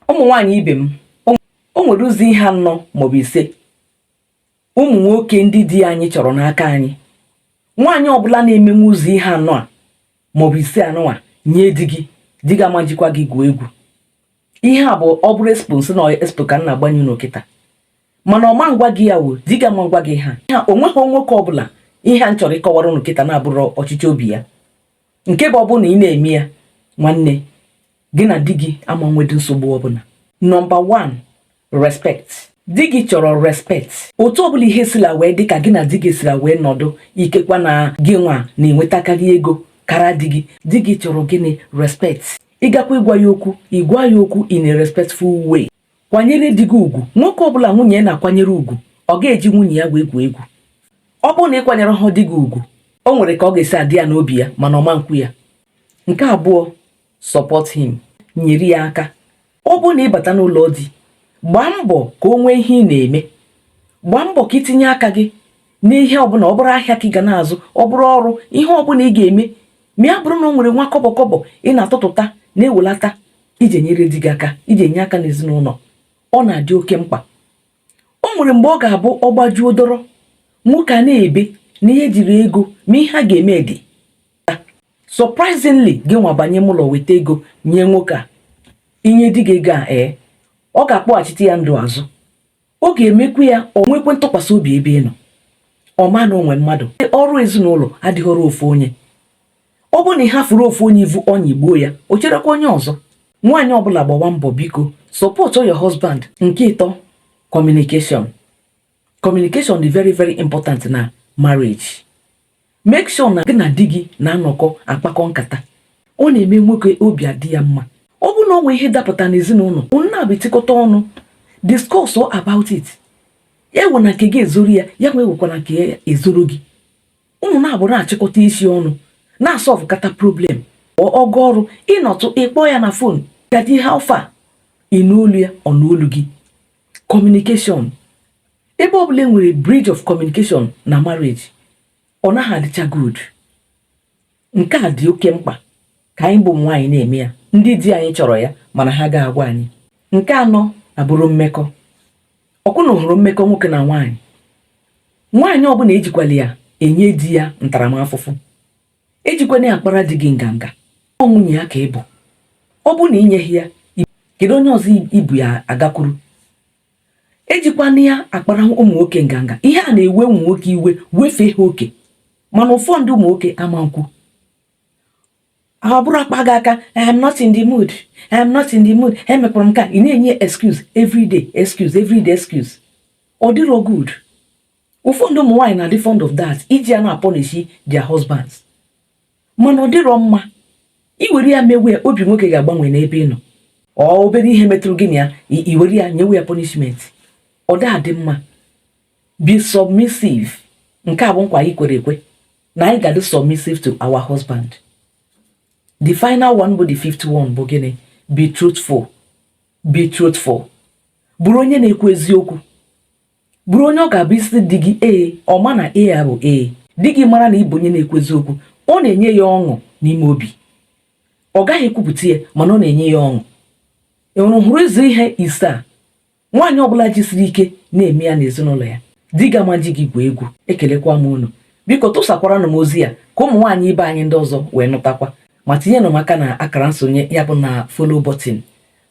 ụmụ nwaanyị ibe m o nwere ụzọ ihe anọ maọbụ ise ụmụ nwoke ndị di anyị chọrọ n'aka anyị nwaanyị ọbụla na-emenwu ụzọ ihe anọ a maọbụ ise a nụwa nye di gị di gị ama jikwa gị gwuo egwu ihe a bụ ọ bụrụ expo sị na expo ka m na-agbanye unu kịta mana ọ ma ngwa gị ya wo di gị ama ngwa gị ha ha o nweghị nwoke ọbụla ihe a m chọrọ ịkọwara unu kịta na-abụrọ ọchịchọ obi ya nke bụ ọ bụrụ na ị na-eme ya nwanne gị na di gị ama nwedị nsogbu ọbụla nọmba 1 respect di gị chọrọ respect otu ọbụla ihe sila wee dị ka gị na di gị sila wee nọdụ ikekwa na gị nwa na-enwetakarị ego kara di gị di gị chọrọ gịnị respect ị gakwa ịgwa ya okwu ị gwa ya okwu in a respectful way kwanyere di gị ugwu nwoke ọbụla nwunye ya na-akwanyere ugwu ọ ga-eji nwunye ya wee gwuo egwu ọ bụrụ na ị kwanyereha di gị ugwu o nwere ka ọ ga-esi adị ya n'obi ya mana ọ ma nkwu ya nke abụọ support him nyere ya aka ọ bụrụ na ị bata n'ụlọ di gbaa mbọ ka o nwee ihe ị na-eme gbaa mbọ ka i tinye aka gị n'ihe ọbụla ọ bụrụ ahịa ka ị ga na-azụ ọ bụrụ ọrụ ihe ọbụla ị ga-eme ma ya bụrụ na o nwere nwa kọbọ kọbọ ị na-atụtụta na-ewelata iji enyere di gị aka iji enye aka n'ezinụlọ ọ na-adị oke mkpa o nwere mgbe ọ ga-abụ ọ gbajuo dọrọ nwoke a na-ebe na ya ejirọ ego ma ihe a ga-eme dị surprisingly gị nwa banye ime ụlọ weta ego nye nwoke a i nye di gị ego a ee eh, ọ ga-akpọghachite ya ndụ azụ ọ ga-emekwu ya o nwekwe ntụkwasị obi ebe ị nọ ọ ma na o nwe mmadụ ọrụ ezinụlọ adịghị ọrụ ofu onye ọ bụrụ na ị hafuru ofu onye ivu ọ nyịgbuo ya o cherekwa onye ọzọ nwaanyị ọbụla gbawa mbọ biko support your husband nke ịtọ communication communication dị very very important na marriage make sure na gị na di gị na-anọkọ akpakọ nkata ọ na-eme nwoke obi adị ya mma ọ bụrụ na o nwee ihe dapụta n'ezinụlọ unu naabọ etikọta ọnụ discuss about it ewena nke gị ezoro ya ya nwa ewekwana nke ya ezoro gị unu naabọ na-achịkọta isi ọnụ na-asọvụkọta problem ọ gaa ọrụ ị nọtụ ị kpọọ ya na fon gadi how far ị nụ olu ya ọ nụ olu gị communication ebe ọbụla e nwere breach of communication na marriage ọ naghị adịcha good nke a dị oke mkpa ka anyị bụ nwaanyị na-eme ya ndị di anyị chọrọ ya mana ha aga agwa anyị nke anọ abụrụ mmekọ ọ kwa unu hụrụ mmekọ nwoke na nwaanyị nwaanyị ọbụla ejikwala ya enye di ya ntaramahụhụ ejikwana ya akpara di gị nganga ọ nwunye ya ka ị bụ ọ bụrụ na i nyeghị ya kedu onye ọzọ i bu ya agakwuru ejikwana ya akpara ụmụ nwoke nganga ihe a na-ewe ụmụ nwoke iwe wefee ha oke mana ụfọdụ ụmụ nwoke ama nkwu ọ bụrụ a kpa gị aka I am not in the mood I am not in the mood emekwara m ka ị na-enye excuse everyday excuse everyday excuse ọ dịrọ good ụfọdụ ụmụ nwaanyị na-adị fond of that iji ya na-apọnishi their husbands mana ọ dịrọ mma i were ya mewe obi nwoke ga-agbanwe n'ebe ị nọ ọ obere ihe metụrụ gị na ya i were ya nyewe ya punishment ọ da adị mma be submissive nke a bụ nkwa anyị kwere ekwe na anyị ga-adị submissive to our husband the final one bụ the fifth one bụ gịnị be truthful be truthful bụrụ onye na-ekwu eziokwu bụrụ onye ọ ga-abụ ị sị di gị ee ọ ma na ee a bụ ee di gị mara na ị bụ onye na-ekwu eziokwu ọ na-enye ya ọṅụ n'ime obi ọ gaghị ekwupụta ya mana ọ na-enye ya ọṅụ ị hụrụ hụrụ ụzọ ihe ise a nwaanyị ọbụla jisiri ike na-eme ya n'ezinụlọ ya di gị ama eji gị gwuo egwu ekelekwa m unu biko tụsakwaranụ m ozi a ka ụmụ nwaanyị ibe anyị ndị ọzọ wee nụtakwa ma tinyenụ m aka na akara nsonye ya bụ na follow button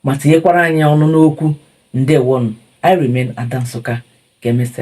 ma tinyekwara anyị ọnụ n'okwu ndewonụ I remain Ada Nsụka ka emesịa